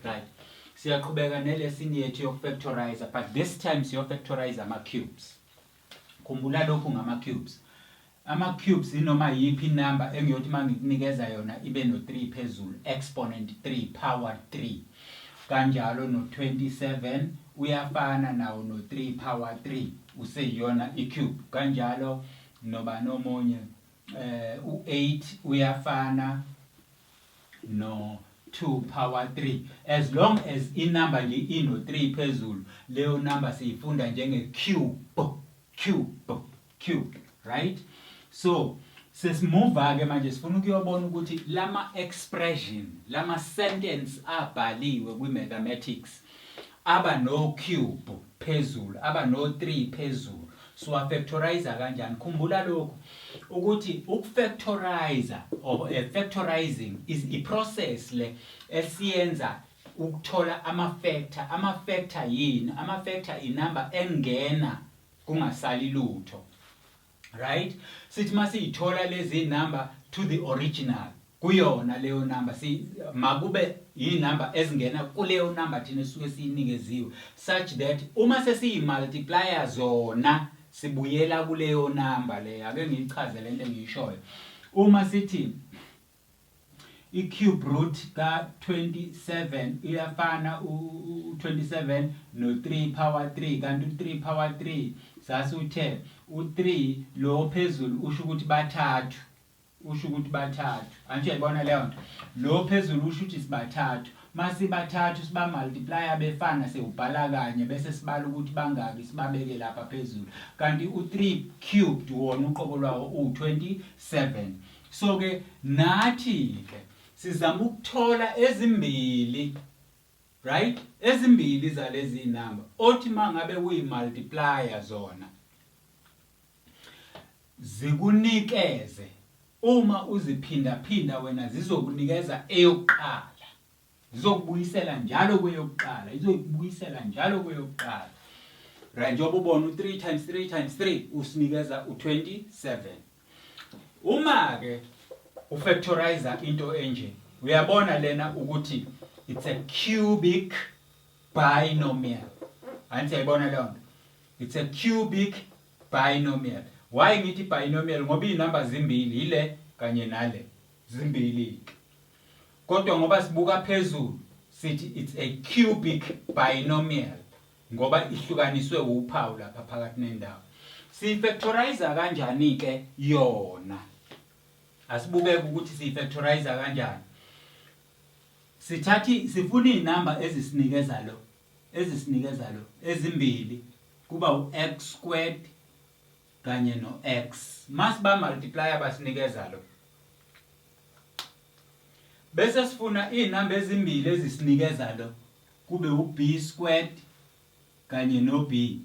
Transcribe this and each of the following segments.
right siyaqhubeka nelesini yethu yokufactorizer but this time siyofactorize ama-cubes khumbula lokhu ngama-cubes ama-cubes inoma yiphi inumber engiyothi uma ngikunikeza yona ibe no-3 phezulu exponent 3 power 3 kanjalo no-27 uyafana nawo no-3 power 3 useyiyona i-cube kanjalo noba nomunye Eh u 8 uyafana no 2 power 3 as long as i number nje ino 3 phezulu leyo number siyifunda njenge cube cube cube right so sesimova ke manje sifuna ukuyobona ukuthi lama expression lama sentence abhaliwe kwi mathematics aba no cube phezulu aba no 3 phezulu siwafactorizer kanjani khumbula lokhu ukuthi ukufactorizer or uh, factorizing is a process le esiyenza ukuthola ama factor ama factor yini ama factor inumber engena kungasali lutho right sithi masiyithola lezi number to the original kuyona leyo number si makube inumber ezingena kuleyo number thina esuke siyinikeziwe such that uma sesiyi multiplier zona sibuyela kuleyo number leyo ake ngiyichaze lento engiyishoyo uma sithi i cube root ka 27 iyafana u 27 no 3 power 3 kanti u 3 power 3 sasuthe u 3 lo phezulu usho ukuthi bathathu Usho ukuthi bathathu. Anti uyayibona leyo nto. Lo phezulu usho ukuthi sibathathu. Uma sibathathu sibamultiplaya befana siwubhala kanye bese sibala ukuthi bangaki sibabeke lapha phezulu. Kanti u-3 cubed wona uqobo lwawo uwu-27. So-ke nathi-ke sizama ukuthola ezimbili right ezimbili zalezi zinamba othi uma ngabe uyimultiplaya zona Zikunikeze uma uziphindaphinda wena zizokunikeza eyokuqala. Zizokubuyisela njalo kweyokuqala, izokubuyisela njalo kweyokuqala. Right njengoba ubona u3 times 3 times 3 usinikeza u27. Uma ke ufactorize into enje uyabona lena ukuthi it's a cubic binomial anti yayibona leyo nto it's a cubic binomial why ngithi binomial ngoba izinamba zimbili yile kanye nale zimbili kodwa ngoba sibuka phezulu sithi it's a cubic binomial ngoba ihlukaniswe uphawu lapha phakathi nendawo siyifactorize kanjani ke yona asibukeke ukuthi siyifactorize kanjani Sithathi sifuna izinamba ezisinikeza lo ezisinikeza lo ezimbili kuba u x squared kanye no x masiba multiply abasinikeza lo bese sifuna izinamba ezimbili ezisinikeza lo kube u b squared kanye no b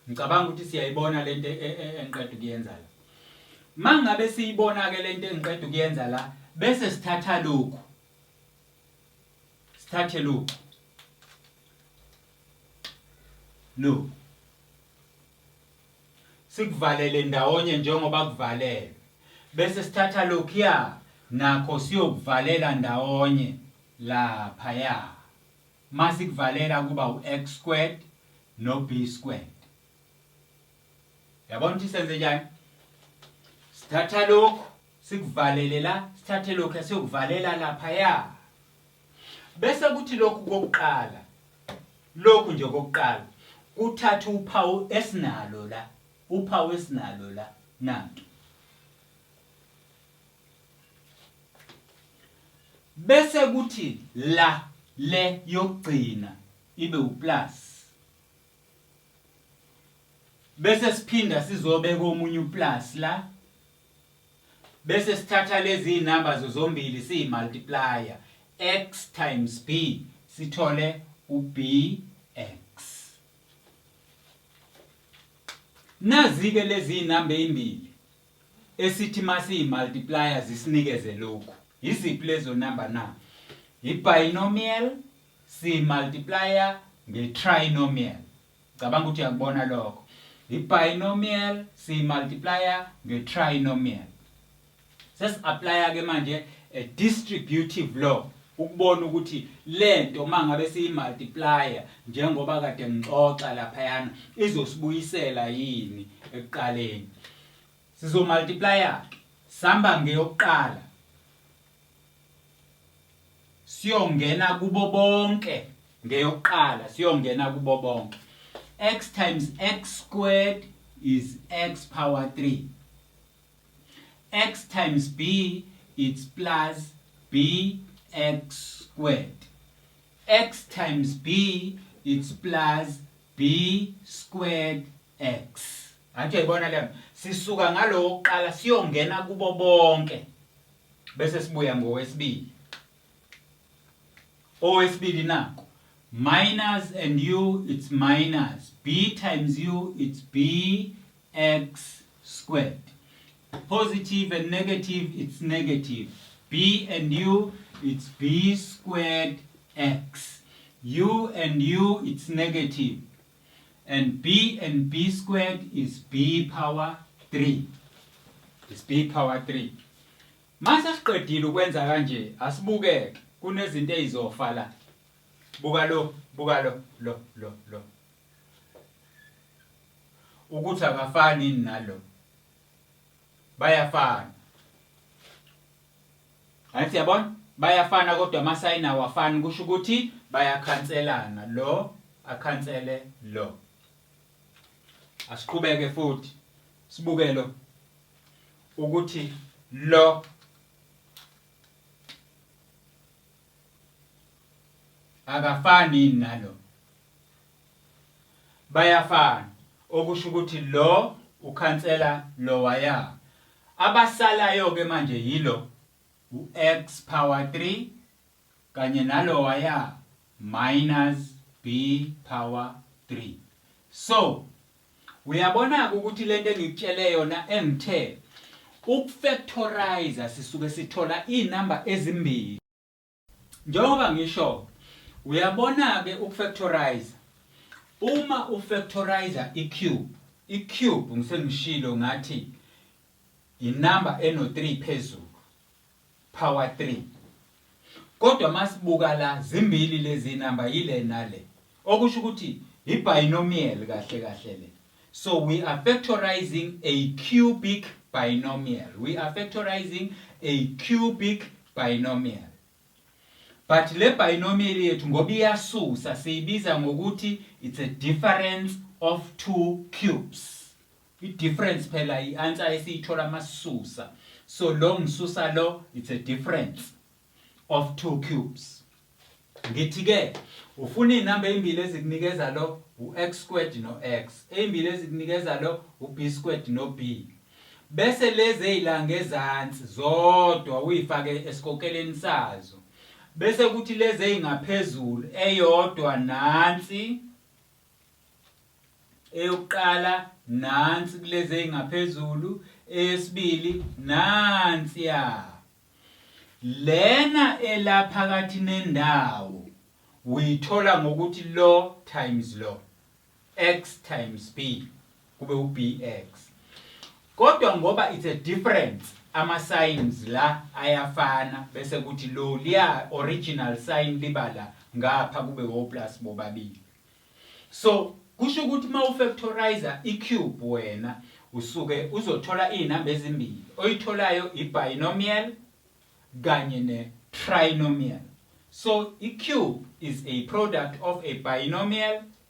ngicabanga ukuthi siyayibona lento e, e, engiqeda ukuyenza la mangabe siyibona ke lento engiqeda ukuyenza la bese sithatha lokhu sithathe lokhu lokhu sikuvalele ndawonye njengoba kuvalelwe bese sithatha lokhuya nakho siyokuvalela ndawonye laphaya masikuvalela kuba u-x squared no-b squared yabona ukuthi senze njani sithatha lokhu sikuvalele la sithathe lokhu siyokuvalela laphaya Bese kuthi lokhu kokuqala, lokhu nje kokuqala, kuthatha uphawu esinalo la, uphawu esinalo la, nantu. Bese kuthi la, le yokugcina, ibe uplus. Bese siphinda sizobeka omunye uplus la, Bese sithatha lezi zinamba zozombili siyi multiplier x times b sithole ubx. Nazi-ke lezi zinamba ezimbili esithi masiyi multiplier zisinikeze lokhu. Yiziphi lezo namba na? Yibinomial si multiplier ngetrinomial. Ngicabanga ukuthi uyakubona lokho. I-binomial siyi-multiplier nge-trinomial. Sesi-aplaya-ke manje a distributive law ukubona ukuthi le nto uma ngabe siyi-multiplier njengoba kade ngixoxa laphayana izosibuyisela yini ekuqaleni. Sizo-multiplier-ke sihamba ngeyokuqala siyongena kubo bonke ngeyokuqala siyongena kubo bonke x times x squared is x power 3 x times b it's plus b x squared x times b it's plus b squared x athi yayibona le sisuka ngalowo kuqala siyongena kubo bonke Bese sibuya ngowesibili. Owesibili naku minus and u it's minus b times u it's b x squared. Positive and negative it's negative b and u it's b squared x. u and u it's negative and b and b squared is b power 3 is b power 3 mase siqedile ukwenza kanje asibukeke kunezinto ezizofa la buka lo buka lo lo lo lo ukuthi akafani nalo bayafana Hayi siyabona bayafana kodwa amasayini awafani kusho ukuthi bayakhanselana lo akhansele lo. Asiqhubeke futhi sibuke lo ukuthi lo akafani yini nalo bayafana okusho ukuthi lo ukhansela lowaya abasalayo ke manje yilo u-x power 3 kanye nalowaya minus b power 3 so Uyabonake ukuthi lento engikutshele yona engithe ukufactorizer sisuke sithola inamba ezimbili. Njengoba ngisho uyabonake ukufactorizer uma ufactorizer icube icube ngisengishilo ngathi inamba eno 3 phezulu. Power 3. Kodwa masibuka la zimbili lezi number yile nale. Okusho ukuthi i binomial kahle kahle le. So we are factorizing a cubic binomial. We are factorizing a cubic binomial. But le binomial yethu ngoba iyasusa siyibiza ngokuthi it's a difference of two cubes. I difference phela i answer esiyithola masisusa. So lo ngisusa lo it's a difference of two cubes. Ngithi ke ufuna izinamba ezimbili ezikunikeza lo u-x squared no-x, ezimbili ezikunikeza lo u-b squared no-b. Bese lezi ezilanga ezansi zodwa uyifake esikokeleni sazo. Bese kuthi lezi ezingaphezulu eyodwa nansi eyokuqala nansi kulezi ey'ngaphezulu eyesibili nansiya lena elaphakathi nendawo uyithola ngokuthi lo times lo x times b kube uBX kodwa ngoba it's a difference ama signs la ayafana bese kuthi lo liya original sign libala ngapha kube o plus bobabili so kusho ukuthi uma ufactorizer icube wena usuke uzothola izinamba ezimbili oyitholayo ibinomial kanye ne trinomial so icube is a product of a binomial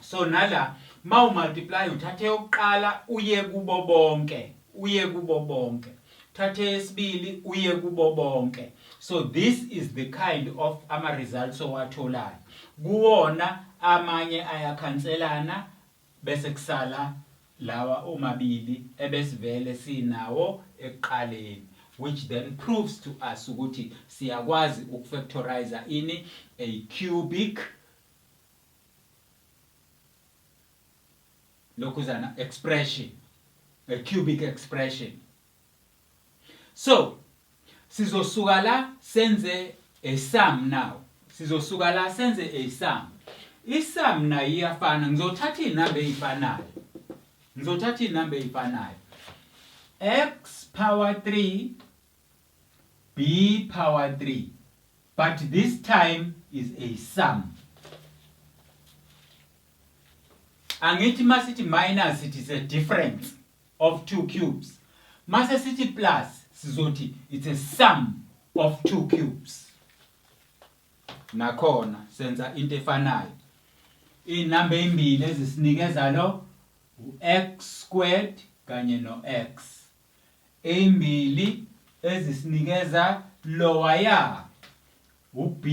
so nala mawu multiply uthathe yokuqala uye kubo bonke uye kubo bonke thathe yesibili uye kubo bonke so this is the kind of ama results owatholayo kuwona amanye ayakhanselana bese kusala lawa omabili ebesivele sinawo ekuqaleni which then proves to us ukuthi siyakwazi ukufactorize ini a cubic lokhuzana expression a cubic expression so sizosuka la senze a sum now sizosuka la senze a sum isum nayo iyafana ngizothatha inamba ezifanayo ngizothatha inamba ezifanayo x power 3 B power 3 but this time is a sum angithi masithi minus sithi is a difference of two cubes mase sithi plus sizothi it's a sum of two cubes nakhona senza into efanayo inamba ezimbili ezisinikeza lo u-x squared kanye no-x eyimbili ezisinikeza lowaya u-B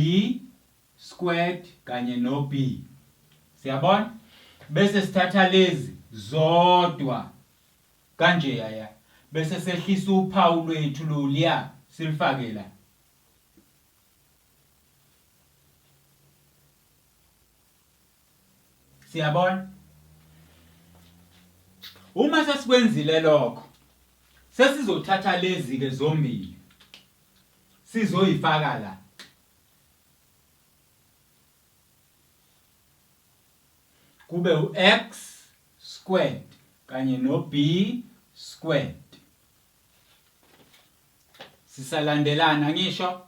squared kanye no-B. Siyabona? Bese sithatha lezi zodwa kanje yaya bese sehlisa uphawu lwethu loluya silifake la. Siyabona? Uma sesikwenzile lokho, sesizothatha lezi-ke zombili sizoyifaka la. Kube u-x squared kanye no-b squared. Sisalandelana ngisho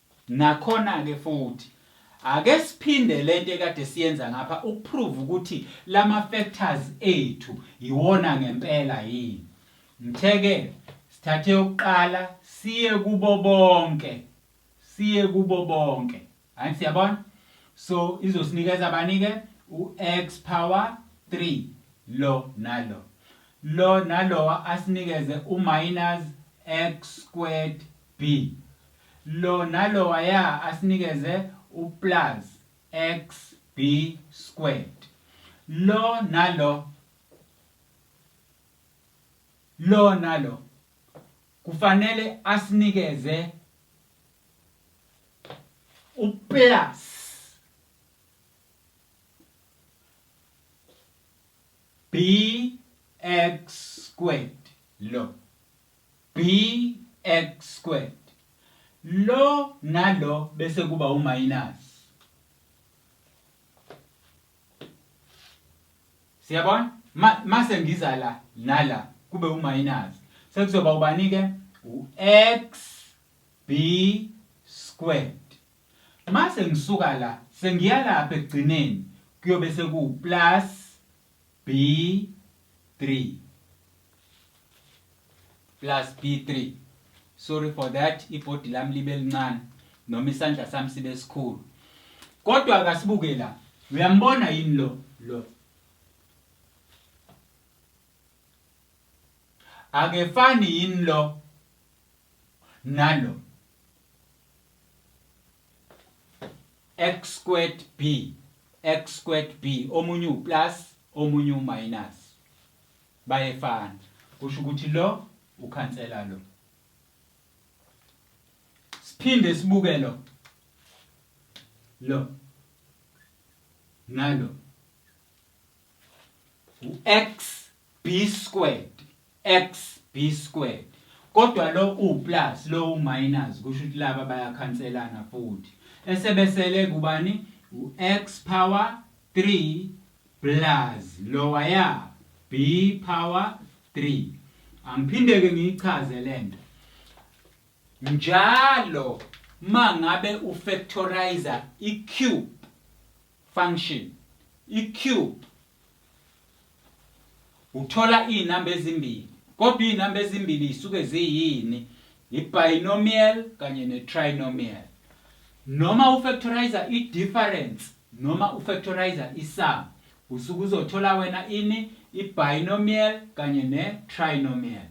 Nakhona-ke futhi, ake siphinde le nto ekade siyenza ngapha ukuphruva ukuthi la ma-factors ethu yiwona ngempela yini. Ngithe-ke sithathe eyokuqala siye kubo bonke, siye kubo bonke. Angithi siyabona? So izosinikeza bani-ke? U-x power 3 lo nalo. Lo nalowa asinikeze u-minus x squared B, Lo nalowaya asinikeze u plus xb squared. Lo nalo Lo nalo kufanele asinikeze u plus bx squared lo. bx squared lo nalo bese kuba uminus siyabona mase ngiza la nala kube uminus sekuzoba ubani ke u-x b squared mase ngisuka la sengiyalapha ekugcineni kuyobe sekuwuplus B3 plus B3 sorry for that ibhodi lami libe lincane noma isandla sami sibe sikhulu kodwa akasibuke la uyambona yini lo lo akefani yini lo nalo x squared b x squared b omunye uplus omunye uminus bayefana kusho ukuthi lo ukhansela lo siphinde sibuke lo lo nalo u-x B squared x B squared kodwa lo u plus lo u minus kusho ukuthi laba bayakhanselana futhi esebesele kubani u x power 3 plus lowa ya B power 3 angiphindeke ngiyichaze lento njalo mangabe u factorizer i cube function i cube Uthola izinamba ezimbili kodwa izinamba ezimbili zisuke ziyini? Yi-binomial kanye ne-trinomial. Noma ufactorizer i-difference noma ufactorizer i-sum usuke uzothola wena ini? I-binomial kanye ne-trinomial.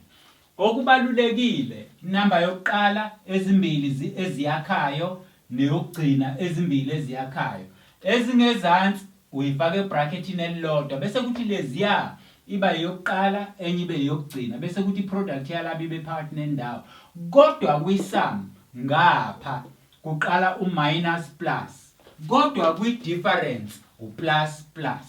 Okubalulekile, inamba yokuqala, ezimbili zi eziyakhayo neyokugcina, ezimbili eziyakhayo. Ezingezansi uyifaka ebhrakhethini elilodwa bese kuthi leziya iba eyokuqala enye ibe eyokugcina bese kuthi iproduct yalaba ibe phakathi nendawo. Kodwa kwi-sum ngapha kuqala u-minus plus kodwa kwi-difference u-plus plus.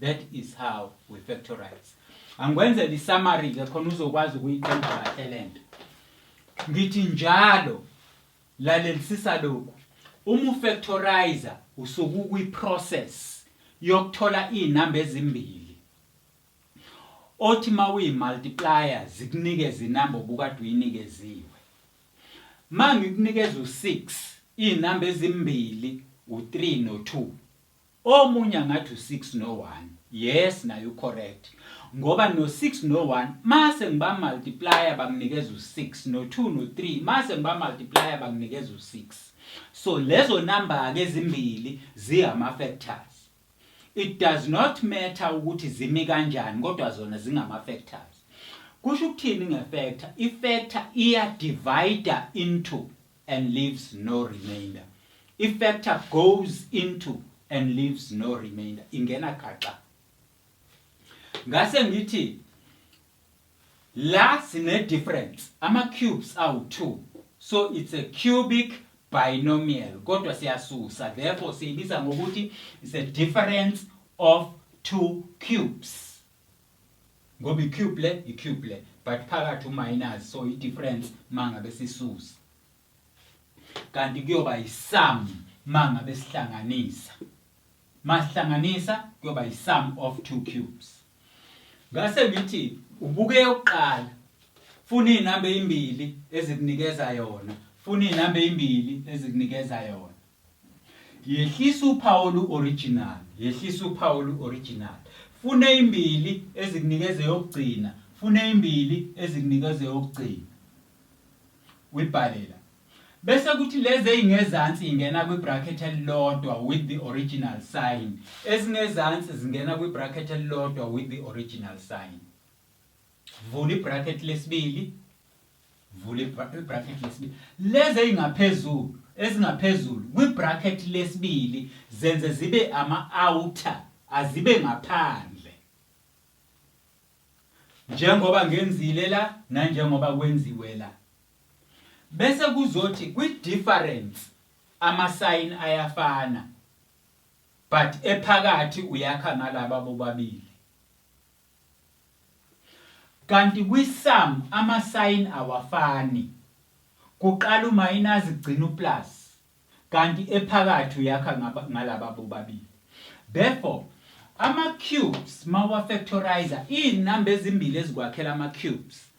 That is how we factorize. Angikwenzele i-summary ke khona uzokwazi ukuyiqonda kahle lento. Ngithi njalo lalelisisa lokhu. Uma ufactorizer usuku kwi process yokuthola izinamba ezimbili. Othi mawuyi multiplier zikunikeza inamba obukade uyinikeziwe. Mangikunikeza u6 izinamba ezimbili u3 no2. Omunye angathi u six no one yes naye u correct ngoba no six no one mase ngiba multiplier banginikeza u six no two no three mase ngiba multiplier banginikeza u six so lezo number ke ezimbili ziyama factors it does not matter ukuthi zimi kanjani kodwa zona zingama factors kusho ukuthini nge factor i factor iya divider into and leaves no remainder. I-factor goes into and leaves no remainder. Ingena gaxa. Ngase ngithi la sine difference ama cubes awu 2 so it's a cubic binomial kodwa siyasusa therefore siyibiza ngokuthi it's a difference of two cubes Ngoba i cube le i cube le but phakathi u minus so i difference mangabe sisusa. Kanti kuyoba i sum mangabe sihlanganisa. Masihlanganisa kuyoba i sum of two cubes. Ngase ngithi ubuke yokuqala funa izinamba ezimbili ezikunikeza yona. Funa izinamba ezimbili ezikunikeza yona. Yehlisa uphawu olu-original, yehlisa uphawu olu-original. Funa eyimbili ezikunikeza eyokugcina, funa eyimbili ezikunikeza eyokugcina. Uyibhale la. Bese kuthi lezi ey'ngezansi ingena kwi-bracket elilodwa with the original sign. Ezingezansi zingena kwi-bracket elilodwa with the original sign. Vula i-bracket lesibili. vula ibra- ibrakhethi lesibili lezi ezingaphezulu ezingaphezulu kwibrakhethi lesibili zenze zibe ama-outer azibe ngaphandle njengoba ngenzile la nanjengoba kwenziwe la bese kuzothi kwi-difference amasayini ayafana but ephakathi uyakha ngalaba bobabili Kanti kwi sum ama sign awafani. Kuqala umayinazi kugcina uplus kanti ephakathi uyakha ngalaba bobabili. Therefore ama cubes mawuwa factorizer izinamba ezimbili ezikwakhela ama cubes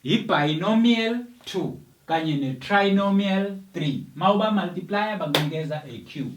yi binomial 2 kanye ne trinomial 3 mawuba multiplier bakunikeza a cube.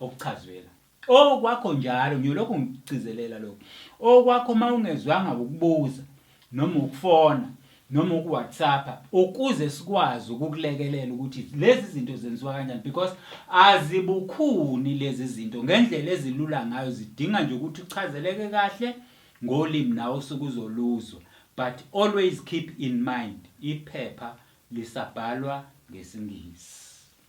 okuchazwe la. Okwakho njalo ngiyolokhu ngigcizelela lokhu. Okwakho uma ungezwanga ukubuza noma ukufona noma ukuwhatsappa ukuze sikwazi ukukulekelela ukuthi lezi zinto zenziwa kanjani because azibukhuni lezi zinto ngendlela ezilula ngayo zidinga nje ukuthi uchazeleke kahle ngolimi nawe osuke uzoluzwa but always keep in mind iphepha lisabhalwa ngesingisi